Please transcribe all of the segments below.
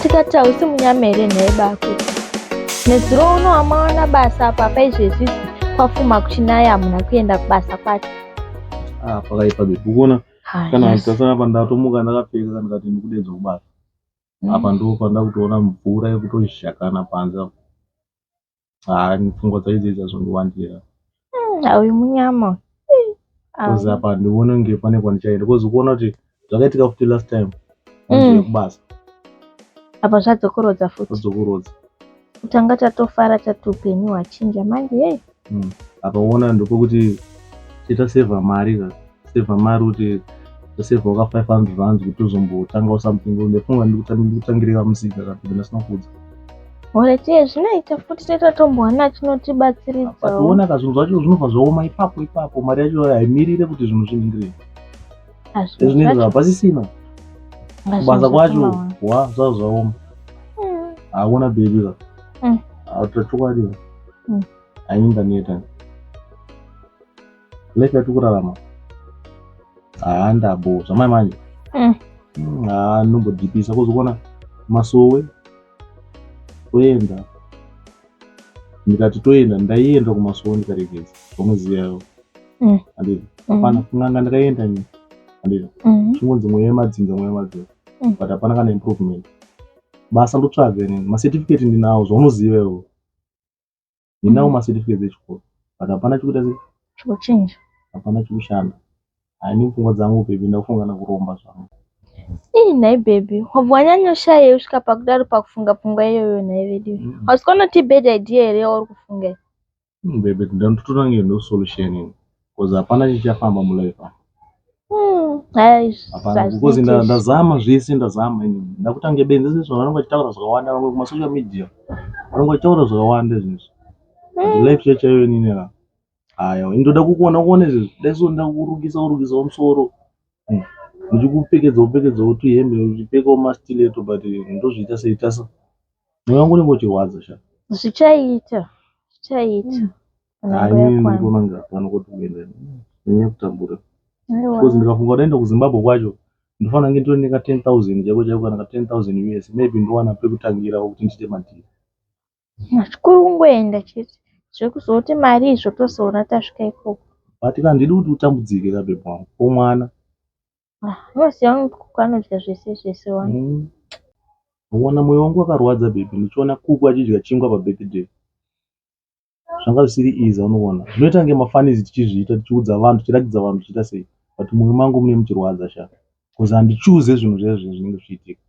tikati hausi munyama here nhai bako nezuro uno amawana basa apa paizvezvizi kwafuma kuchinaya hamuna kuenda kubasa kwacho ah, pakaipa zvekuona ah, kana ndikasana apa ndatomuka ndakapfeka kana kati ndikudedza kubasa mm. apa ndo pandakutoona mvura yekutozhakana panze haa pfungwa dzaidzi idzi hazvondiwandira Ah, uyu munyama uyu. Ih, ah. kozi apa handione kunge pane kwandichaenda kozi kuona kuti zvakaitika futi last time Mm. ndiri kubasa apa zvadzokorodza futi odzokorodza kutanga tatofara tati upenyu hwachinja manje yei apa uona ndopokuti titasevha mari ka kuseva mari kuti taseva waka 500 rands kuti tozombotangawo something ndefunga ndikutangirira musika kana kuti ndasina kudza Horetie zvinoita futi toita tombowana chinotibatsiridzawoona ka zvinhu zvacho zvinobva zvaoma ipapo ipapo mari yacho haimirire kuti zvinhu zviningirei ezvinezvi hapasisina kubasa kwacho wa zvaa zvaoma hmm. haona bebi ka hmm. autachokwadi hmm. ainda neta life yatiri kurarama haa ndabo zvamai manje Mm. Mm, haa ndombodhipisa kuzokona masowe toenda ndikati toenda ndaienda kumasowe ndikaregeza pamuzivi yavo Mm. andizvo Mm. hapana kun'anga ndakaenda ni andizvo Mhm. chingonzi mweya yemadzinza mweya yemadzinza Mm. but hapana kana improvement basa ndotsvaga inini macertificate ndinawo zvaunoziva iwo ndinawo ma certificates echikoro but hapana chikuita sei chikuchinja hapana chikushanda haini pfungwa dzangu baby ndakufunga nakuromba zvangu ii nhai baby wabva wanyanyoshayei usvika pakudaro pakufunga pfungwa iyoyo nhai vedu mm. hausi kwanoti bad idea here yauri kufunga mm, baby ndanototora nge no solution Because hapana chichafamba mu life apa. Hmm, aish, Hapana because hazviiti nda- izvi. ndazama zvese ndazama ini. Ndakutange benzi zvese vanhu vanenge vachitaura zvakawanda vamwe kuma social media. Vanenge vachitaura zvakawanda zvese. But Hmm, life chaiyo chaiyo inini na. Haya, ini ndoda kukuona kuone izvi. Dai so nda kurukisa kurukisa musoro. Hmm. Ndichikupfekedza kupfekedza kuti hembe uchipfeka ma stiletto but ndozviita sei tasa. Mweya wangu unenge uchirwadza sha. Zvichaita, zvichaita. because ndikafunga kudaenda kuzimbabwe kwacho ndofana kunge ndiri neka 10000 chako chako kana ka 10000 us maybe ndowana pekutangira kuti ndiite madhiri chikuru kungoenda chete zvekuzoti mari izvo tozoona tasvika ikoko but ka ndidi kuti utambudzike ka bebe wangu ko mwana ah, unosiya kuku anodya zvese zvese wani mm. uona moyo wangu wakarwadza bebe ndichiona kuku achidya chingwa pabirthday zvanga zvisiri easy unoona zvinoita kunge mafanizi tichizviita tichiudza vanhu tichiratidza vanhu tichiita sei but mumwe mangu mune muchirwadza sha bcause handichuze zvinhu zvayo zvinhu zvinenge zvichiitika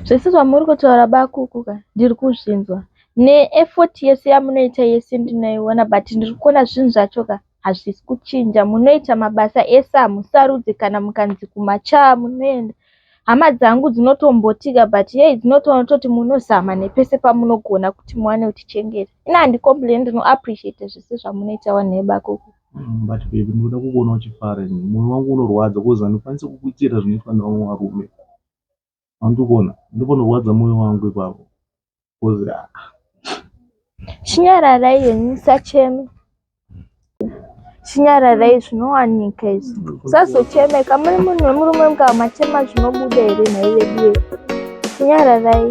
zvese zvamuri kutaura bakuku ka ndiri kuzvinzwa neefoti yese yamunoita yese ndinoiona but ndiri kuona zvinhu zvacho ka hazvisi kuchinja munoita mabasa ese hamusarudze kana mukanzi kumachaa munoenda hama dzangu dzinotombotika but yei dzinotoona toti munozama nepese pamunogona kuti muwane kutichengeta ina handicomplain ndinoappreciate zvese zvamunoita wanhu ebakoko Mm, but baby ndinoda kukuona uchifara ini moyo wangu unorwadza kozi handikwanise kukuitira zvinoitwa nevamwe varume andikuona ndikonorwadza moyo wangu ipapo kozi ah. chinyararai henyu musacheme chinyararai zvinowanika izvi musazochemeka muri munhu wemurume mukamachema zvinobuda here nhai veduwe chinyararai